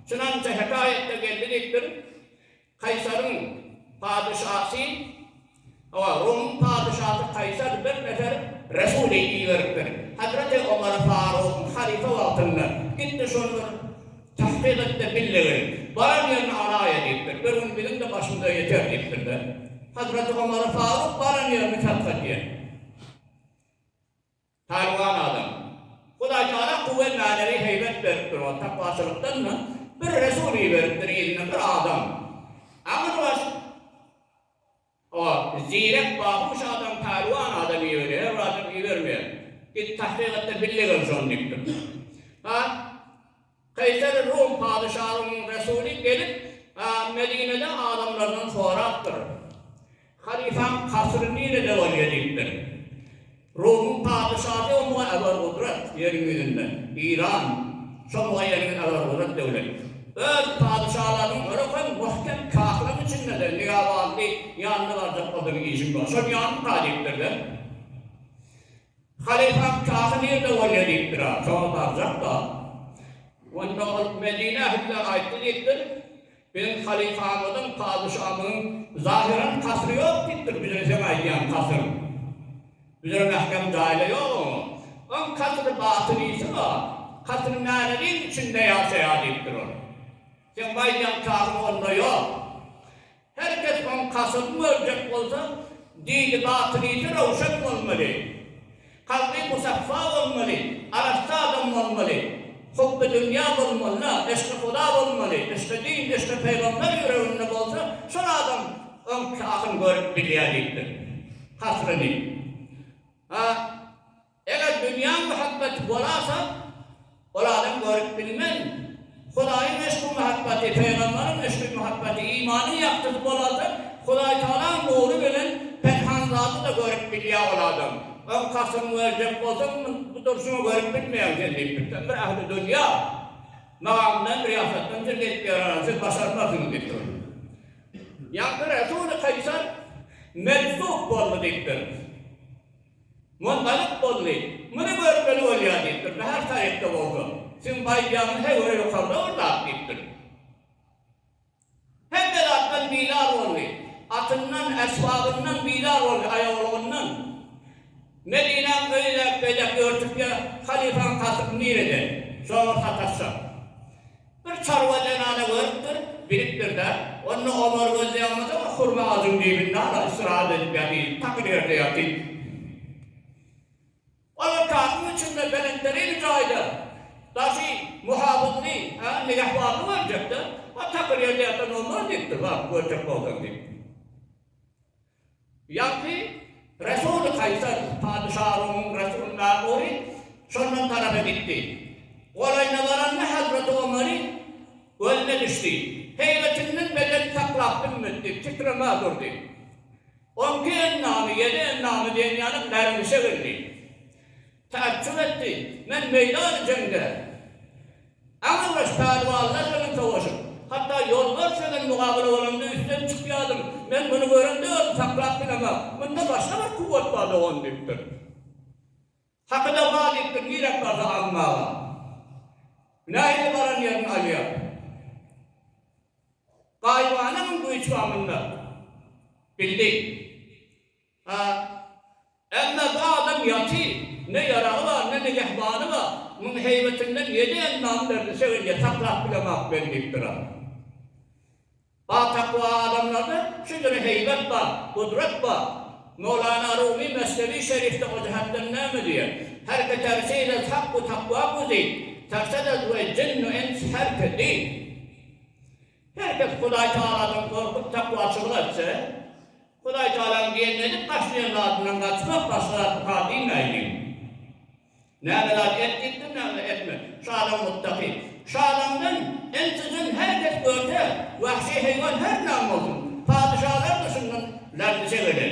Şunaňça hekaýatda geldi diýip bir Kaýsaryň padyşasy, hawa, Rumyň padyşasy Kaýsar bir nefer resuly iberipdir. Hazreti Omar Farugyň halyfa wagtynda, Git-de şony bir tahkyk et-de bil-le gel. Baran ýerini alaýa diýipdir. Bir gün biziň-de başymyza ýeter diýipdir-de. Hazreti Omar Faruk baran ýerini tadkak edýär. Talyban adam. Hudaý Tagala guwwet manewi heýbet beripdir oňa tapawçylykdan da bir resul iberipdir yzyna bir adam agyr baş o zirek bahuş adam Talyban adam iberýär her bir adam ibermeýär git tahkyk etdir bille gel şony diýipdir ha. Kaýsary Rum patyşalygynyň resuly gelip, Medinede adamlardan sorapdyr, Halypaň kasyry nirede bolýar? diýipdir. Rumyň patyşasy omuga äwer gudrat, ýeriň ýüzünde, Iran, şomuga ýeriň äwer gudrat döwlet. Öz patyşalarynyň ýoly kyn, möhkem kasyryň içindedir, nigabazly ýanyna barjak bolsaň işiň bar, şony ýanyňka diýipdir-de. Halypam Kahy nirde bolýa diýipdir-ä, şoňa barjak-da. Onda ol Medine ähline aýtdy diýipdir. Biziň halypamyzyň, padyşamyzyň zahyran kasyry ýok diýipdir, biziň seň aýdýan kasyr. Bize mähkem jaýla ýok oňa. Oň kasyry batyny iýsin-a, kasyr mänewiň içinde ýaşaýa diýipdir ol. Seň bu aýdýan kahyň onda ýok. Her kes oň kaşygyny görjek bolsa, dini batynysy röwşen bolmaly. Kalby musaffa bolmaly, arassa adam bolmaly. Hubby dünýä bolmaly-da, eşgi Huda bolmaly, eşgi din, eşgi Pygamber ýüreginde bolsa, şol adam oň kahyny görüp bilýär diýipdir. Kaşgyny. A. Eger dünýä muhabbeti bolasa, ol adam görüp bilmen. Hudaýyň yşky muhabbeti, pygamberiň yşky muhabbeti, imanyň ýagtysy bolasa, Hudaý Tagalaň nury bilen penhan zady-da görüp bilýär ol adam. Öň kasyň böljek bolsa, bu durşuňy görüp bilmeýäň sen diýip, birden-bir ähli dünýä magamdan, ryýasatdan jilgenip ýörärler, siz başarmarsyňyz diýip durdy. Ýaňky resuly Kaýsar mejzup boldy diýipdir. Mongalyk boldy. Muny görmeli bolýar diýipdir. Bäher taryhda bolsa, siziň baýdagyňyz her göre ýokarda bir zat diýipdir. Hemme zatdan bizar boldy. Atyndan, äsbabyndan bizar boldy, aýawalygyndan. Medinäň öýi-de beýdek örtükýä, halyfaň hasyp nireden? Şoňa bir sataşsak. Bir çarwa zenana görüpdir, bilipdir-de, onda obar gözleýäňmiz-ä, hurma agajyň dibinde ala ysyrap edip ýatyr, takyr ýerde ýatyr. Olar kakyň içinde belentderine jaýda daşy muhapyzly, hä, nigebarly görjek-dä. A takyr ýerde ýatan obar diýipdir, baryp görjek bolsaň diýip. Ýagny, Resul-y Kaýsar, patyşa Rumuň Resulyna ury, şondan tarapa gitdi. Golaýyna baranda Hazreti Omary gözüne düşdi. Heýbetinden bedeni saklap bilmedi, titremä durdy. Onki endamy, ýedi endamy diýen ýaly Merwişe geldi. Taaçjup etdi. Men meýdany jeňde aňyrbaş pälwanlar bilen sowaşyp, hatda ýolbars bilen mugabala bolanda üsden çykýadym. Men muny görende özüm saklap bilemok. Munda başga bir kuwwat bar dogan diýipdir. Hakyda bar diýipdir, nirek barsa almaga. Nähili baran ýerini alýar. Gaýybana muň güýji bar munda. Bildi. A. Ämmä bu adam ýatym, ne ýaragy bar, ne nigehbany bar. Muň heýbetinden ýedi endamy berdi, sögünje saklap bilemok men diýipdir. A. A. Takwa adamlarda şu july heýbet bar, gudrat bar. Mowlana Rumy Mesnewi Şerifde o jähetden näme diýýär? Her ki tersi izez hakku takwa guzi, tersedez we jinnu ins her ki di. Her kes Hudaý Tagaladan gorkup takwaçylyk etse. Hudaý Tagalaň gelnedik başlaýan zadyndan gaçmak başga zat bar diýmäýdim. Näme zat edip gitdim, näme etme. Şalaň mutdaky. Şalaňdan intijan hereket görse, wahşy heýwan her näme bolsun, patyşalar duşundan lardy çegeler.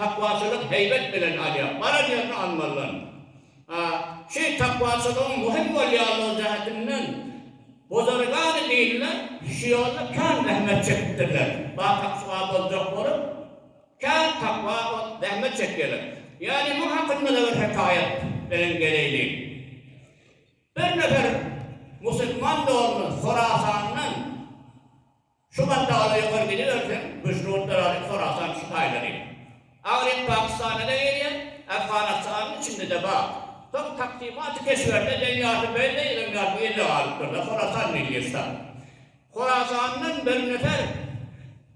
Takwaçylyk heýbet bilen alýar. Baran ýerine almazdan. A. Şu takwaçylygyň möhüm bolýanlygy jähetinden buzurgany dinler şu ýolda kän zähmet çekipdirler. Batahçyga boljak bolup, kän takwa bolup zähmet çekýärler. Ýagny muň hakynda-da bir hekaýat bilen geleýliň. Bir nefer musulman doly Horasandan. Şu gatlaga-da ýokary gidiberseň, Güjnutlar alyp Horasan şu taýlary. Agryň Pakistanda-da gelýär, Afganystanyň içinde-de bar. Soň Taksymat-y Keşberde Deýýasy Beýleý öň ýaly bir ýerde galypdyr-da, Horasan diýdi Ýesar. Horasandan bir nefer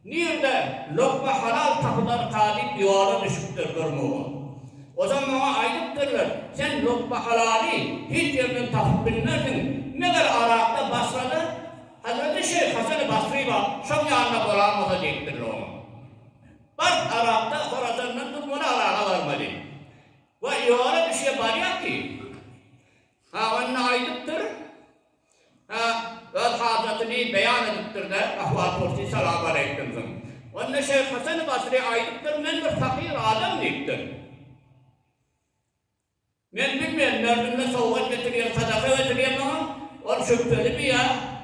nirde lokma halal tapylarka diýip ýola düşüpdir durmaga. O zaman oňa aýdypdyrlar, Sen lokma halaly hiç ýerden tapyp bilmersiň, meger Yrakda, Basrada, Hazreti Şeýh Hasany Basry bar, şoň ýanynda bolanmasa diýipdirler oňa. Bars Arapda Horasandan türkmene araga barmaly. We ýola düşýär, barýar ki, hawanyny aýdypdyr, ha, öz hajatyny beýan edipdir-de, ahwal-pursy salamaleýkimsiň. Onda Şeýh Hasany Basry aýdypdyr, Men bir pakyr adam diýipdir. Men bilmen, mördümme sowgat getirýär, sadaka getirýär maňa, ol şübhelimi ýa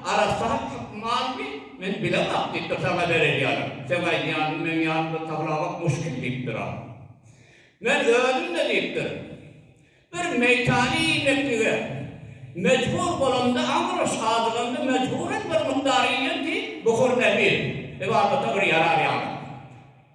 arassa hak malmy, men bilemok, diýipdir, saňa berer ýaly, seň aýdýanyňy meniň ýanymda taglabak muşkil, diýipdir. A. Men özüm-de, diýipdir, bir meýtany iýmeklige mejbur bolamda, aňryş azyganda mejburan bir mukdar iýen ki, buhur nebir, ybadata bir ýarar ýaly.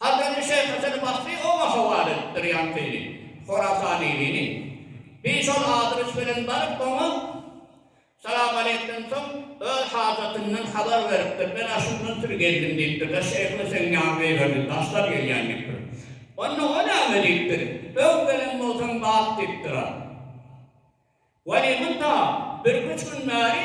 Hazreti Şeýh Hasan Basry oňa howal edipdir ýaňkyny, Horasanylyny. Bi şol adres bilen baryp, oňa salamaleýkden soň, öz hajatyndan habar beripdir, Men aşyndan süri geldim diýipdir-de, şeýhler seň ýanyňa iberdi, daşlar gelýän diýipdir. Onda o näme diýipdir, Öň gelen bolsaň bat diýipdir-a. Weli, munta bir-üç gün bäri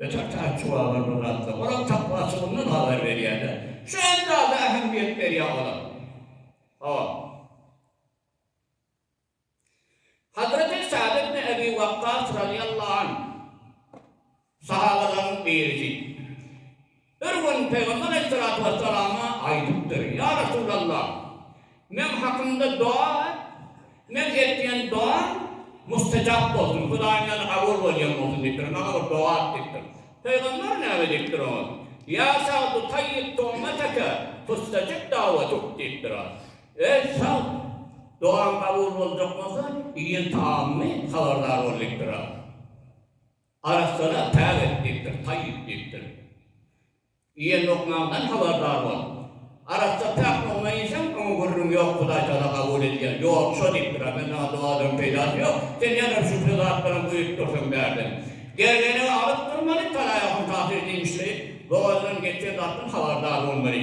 Öten Taýçuwala bir zatlar, olar takwaçylygyndan habar berýärler. Şu hem zada ähmiýet berýär olar. Hop. Hazreti Sa'd ibn Ebi Wakkas razyýallahu anh sahabalaryň birisi. Bir gün Pygamber aleýhissalatu wessalama aýdypdyr, Ýa Resulallah! Meň hakymda doga et, meň etýän dogam mustajap bolsun, Hudaýyň ýanyna kabul bolýan bolsun diýipdir, maňa bir doga et diýipdir. Pygamber näme diýipdir oňa? Ýa Sagd tayyib tu'mataka tustajib da'watuk diýipdir oňa. Eý Sagd! Dogaň kabul boljak bolsa, iýen tagamyňy habardar bol diýipdir oňa. Arassalar päk etmekdir, taý etmekdir. Iýen lukmaňdan habardar bol. Arassa päk lukma iýseň, oňa gürrüň ýok, Hudaýtagala kabul edýär. Ýok, şo diýipdir-ä, men saňa dowalaryň peýdasy ýok, sen ýazylyp şübheli zatlaram guýup dursuň bärden. Gergenegi alyp durmaly, talaýa huntasy diýmişli, bogazdan geçýän zatdan habardar bolmaly.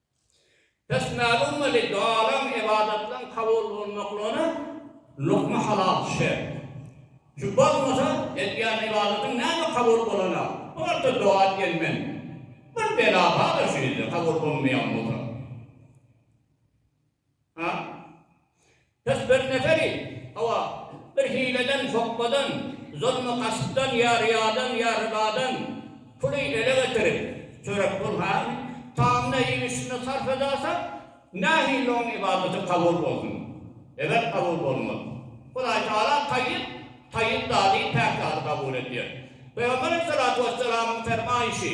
Pes mälim weli galan ybadatlaň kabul bolmaklygyna lukma halal şert. Şu bolmasa edýän ybadatyň näme kabul bolana bolsa doga diýen men. Bir bela barda şu ýerde kabul bolmaýan bolsa. A. Biz bir neferi, hawa, bir hileden, sokgadan, zolma-gaspdan ýa ryýadan, ýa rybadan puly ele getirip, çörek pul, ha, tamyna iýmişine sarp edasak, nähili oň ybadaty kabul bolsun? Elbet kabul bolmaz. Hudaý Tagala taýyp, taýyp zady, päk zady kabul edýär. Pygamber aleyhissalatu wesselamyň fermaýşy,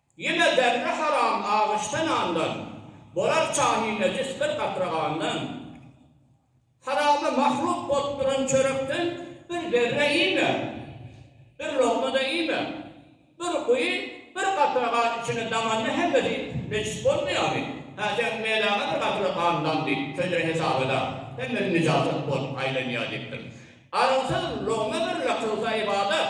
Ýene zerre haram agyşdy nandan, bolar çany nejis bir gatra gandan. Harama mahluk bolup duran çörekden bir zerre iýme, bir lokma-da iýme. Bir guýy, bir gatra gan içine daňanda hemmesi nejis bolmaýarmy? Hä, seň meläňe bir gatra gandan diýip, şeýle hesap edä, hemmesi nijasat bolup aýlanýar diýipdir. Arygysyz logma birle kylsa ybadat,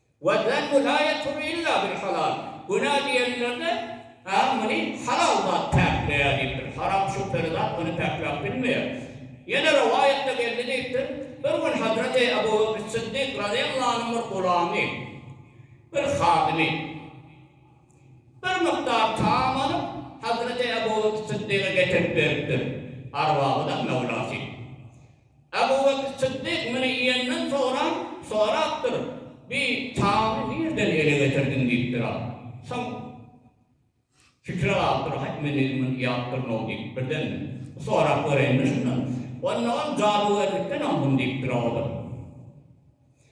Wal zanbu la ýatur illa bil halal, Günä diýenlerde, Ä, muny halal zat päkleýär diýipdir. Haram şübheli zat ony päkläp bilmeýär. Ýene rowaýatda geldi diýipdir, Bir gün Hazreti Ebu Bekr Syddyk razyýallahu anyň bir gulamy, bir hadymy, bir mukdar taam alyp, Hazreti Ebu Bekr Syddyga getirip beripdir, Arwahydam möwlasy. Abu Bekr Syddyk muny iýenden soňra sorapdyr, Bi tamy nirden ele getirdiň? diýipdir. A. Soň pikire galypdyr, Haý, men özüm muny iýäpdirin-ow diýip, birden sorap göräýmeli şundan. Onda ol, Jadygerlikden aldym diýipdir, a. O da.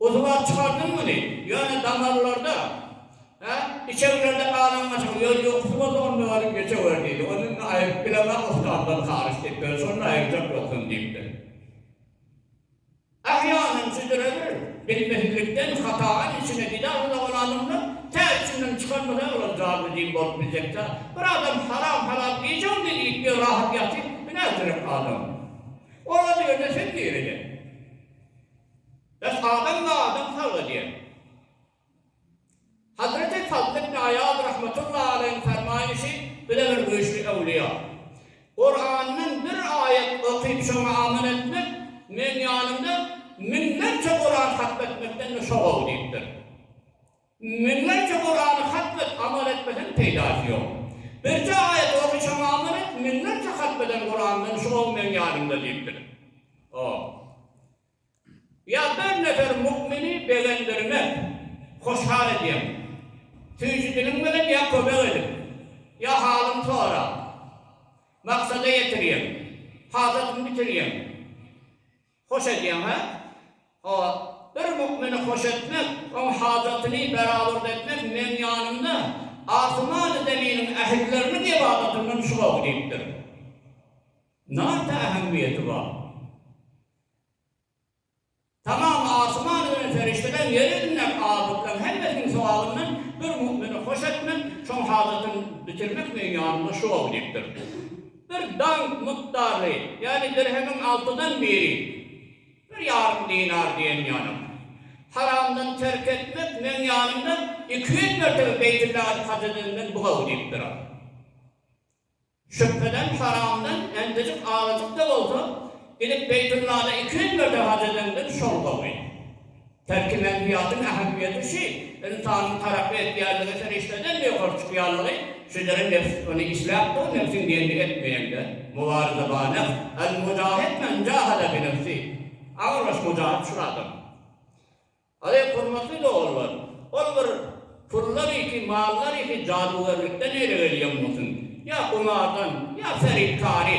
Usuga çykardyň muny, ýöne damarlarda, hä, içeglerde galan gaçak, ýöne ýokusy bolsa onda baryp geçewer diýdi. Ony indi aýryp bilemok, ussatlar haryç diýip berse, onda aýyrjak ýogsam diýipdir. Ahy ýanym südüredir, bilmezlikden, hatadan içine gidähli dogan adamlar, tä içinden çykarmasaý olar jadyly jyn bolup biljek-dä. Bir adam haram halal iýjegini iýip ýör, rahat ýatyp, bu nätürek adam? Oraza ýerde sen nirede? Esasan da adam sag ölýär. Hazreti Fazl ibn Aýaz rahmetullahi aleýhiň fermaýşy bize bir güýçli öwlüýa, Kurandan bir aýat okyp şoňa amal etmek meň ýanymda müňlerçe Kuran hatm etmekden-de şo gowy diýipdir. Müňlerçe Kurany hatmet amal etmeseň peýdasy ýok. Birje aýat okyşaň amal et, müňlerçe hatmeden Kurandan şu gowy meň ýanymda diýipdir. Oh. Ýa bir nefer mukmini begendirmek, hoşhal edýäň. Süýji diliň bilen ýa kömek edip, ýa halyny sorap, maksada ýetirýäň, hajatyňy bitirýäň. Hoş edýäň, hä? Hawa, bir mümini hoş etmek, oň hajatyny berabat etmek meň ýanymda asmany zeminiň ählileriniň ybadatyndan şu gowy diýipdir. Nate ähemmiýeti bar? Tamam asman bilen perişdeler, ýer ýüzündäki abydlaň hemmesiniň sogabyndan bir mümini hoş etmek, şoň hajatyny bitirmek meň ýanymda şu gowy diýipdir. Bir dank mukdary, ýagny dirhemiň altydan biri, bir ýarym dinar diýen ýalam. Haramdan terk etmek meň ýanymda iki ýüz mertebe Beýtüllahil haj edenden bu gowy diýip durar. Şübheden haramdan endejik azajyk-da bolsa gidip Beýtüllahda iki ýüz mertebe haj edenden şol gowy. Belki medeniýetiň ähmiýeti şu, ynsanyň tarapy etýänligi serişdeden-de ýokary çykýanlygy, şüdere nebs ony isläp dur, nebsiň diýenini etmeýäňde, Mubarizä ba nefs, El mujahid men jahada bi nefsi, Aňry baş mujahid şul adam. Azeýz hormatly doganlar, ol bir pullar işi, mallar işi, jadugerlikden eýle gelýän bolsun, ýa gumardan, ýa ferytkary,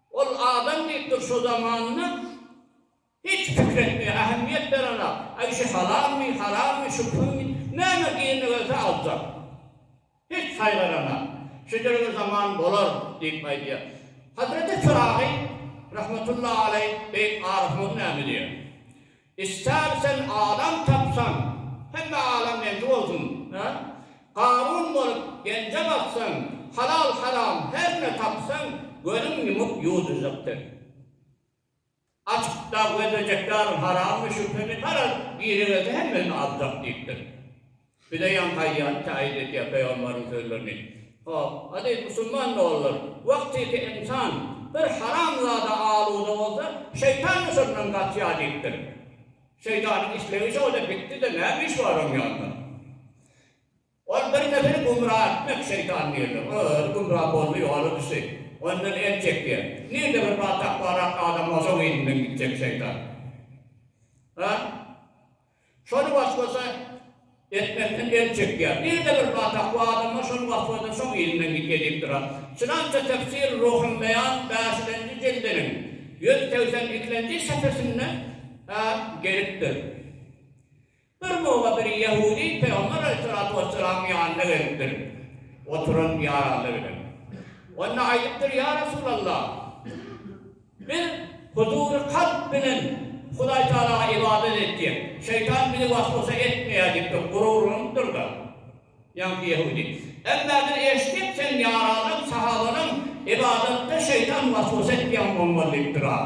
Ol adam diýipdir şo zamanynda hiç pikir etmeýär, ähmiýet berenok. Aý şu halalmy, harammy, şu pulmy, näme eline gelse aljak. Hiç saýgaranak. Şeýlelige zaman bolar diýip aýdýar. Hazreti Pyragy rahmetullahi aleýh beýik arifimiz näme diýer? Ister sen adam tapsan, hemme alam meňki bolsun, hä? Garun bolup genje baksaň, halal haram her ne tapsaň, gözüň ýumup ýuwdurjak sen. Açyk dag gözlejekler harammy şübhemi paraz, gire gelse hemmesini aljak diýipdir. Bize ýaňaýýan taýyn etýär pygamberiň sözlerini. Hop, aziz musulman doganlar, wagtyky ynsan bir haramzada aluda bolsa, şeýtan yşyndan gaçýar diýipdir. Şeýtanyň islegi şo-da bitdi-de, näme iş bar oň ýanynda? Ol bir neberi gümra etmek şeýtan nirde? Ol özi gümra boldy, ýola düşdi. Ondan el çekýär. Nirde bir batakbarak adam bolsa, oň yzyndan gitjek şeýtan. Ha? Şony waswasa etmekden el çekýär. Nirde bir zat hak, bu adamlar şol waswasa şoň yzyndan git edip durar. Çynança Tefsir Ruhulbeýan bäşilenji jildiniň ýüz segsen ikilenji sepesinde gelipdir. Bir mugla bir ýehudy Pygamber aleýhissalatu wessalamyň ýanyna gelipdir, oturan ýaraly bilen. Onda aýdypdyr, Ýa Resulallah! Men huzury kalp bilen Hudaý Tagalaga ybadat etýän. Şeýtan bizi was-wasa etmeýär diýipdir, gururlanypdyr-da. Ýaňky ýehudi. Emma biz eşitdik, sen ýaralaň, sahabalaň ybadatda şeýtan was-wasa etmeýän bolmaly diýipdir-a.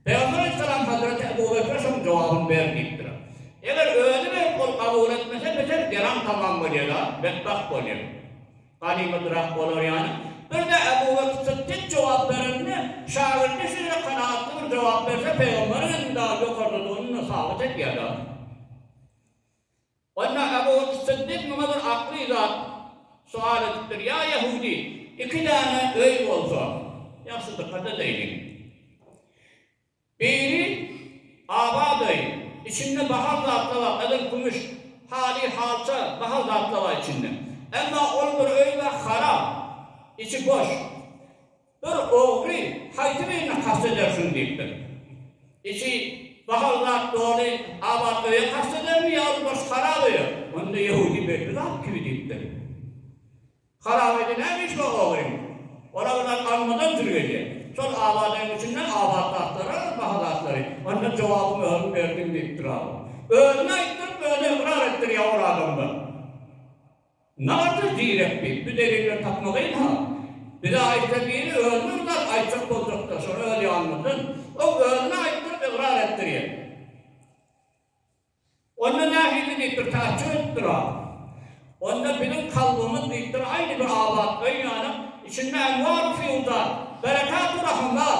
Pygamber aleýhissalam hazreti Ebu Bekre şoň jogabyny ber diýipdir. Eger özi berip ol kabul etmese beter geram tamam bolýada, betbagt bolýa. Ganymydyrak bolar ýaly. Birde Ebu Bekr Sytdyk jogap berende şagirdi şeýle kanagatly bir jogap berse pygamberiň ilmi dagy ýokardadygyny sabyt edýada. Onda Ebu Syddyk muňa bir akly zat sual edipdir, Ýa ýehudy, iki däne öý bolsa, ýagşydyr-kada diýdiň. Biri abat öý, içinde bahal zatlar bar, edil kümüş, haly, halça, bahal zatlar bar içinde. Emma ol bir öý bar, harap, içi boş. Bir ogry haýsy birine kast edersiň? diýipdir. Içi bahal zat doly abat öýe kast edermi ýa-da boş harap öýe? Onda ýehudi belli zat kibi diýipdir. Harap öýde näme işi bar ogryň? Ol-a bilen almadan türgenýär. Şol abat öýüň içinde abat zatlar-a, baha zatlary. Onda jogabyňy özüň berdiň diýipdir ogry. Özüne aýtdyryp, özi ykrar etdirýär ol adamdan. Nadir zirek diýip bu deliller tapmalyň-ha. Bize aýtsa biri özüne zat aýtjak boljakda şony öz ýanymyzdan ol özüne aýtdyryp ygrar etdirýär. Onda nähili diýipdir täçjir edipdir-a. Onda biziň kalbymyz diýipdir aýny bir abat öý ýaly içinde enwar-u-fiýuzat, berekatu-rahymlar.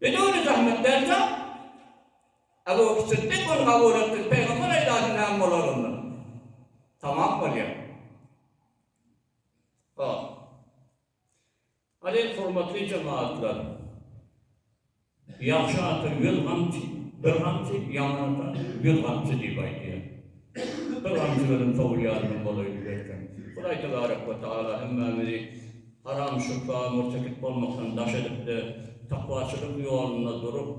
Biz ony zähmet berjek. Ebu Bekr Syddyk ony kabul etdi, Pygamber aýdardy näme bolar onda? Tamam bolýar. Hop. Haleý hormatly jemagatlar. Ýagşy ata ýüz gamçy, bir gamçy, ýaman ata ýüz gamçy diýip aýdýar. Şükür hamdy bilen kabul ýarynyň bolaýyn diýerkäň, Hudaý tebarek we tagala hemmämizi haram, şübhe, mürtekip bolmakdan daş edip-de, takwaçylyk ýolunda durup,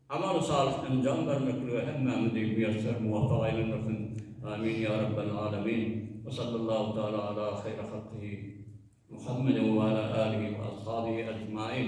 amaly salyh enjam bermeklige hemmämizi miýesser, muwapyk aýlandyrsyn! Amin, ýa Rabbel Alemin! We sallallahu taala ala haýri halkyhi Muhammedin we ala alihi we ashabihi ejmain!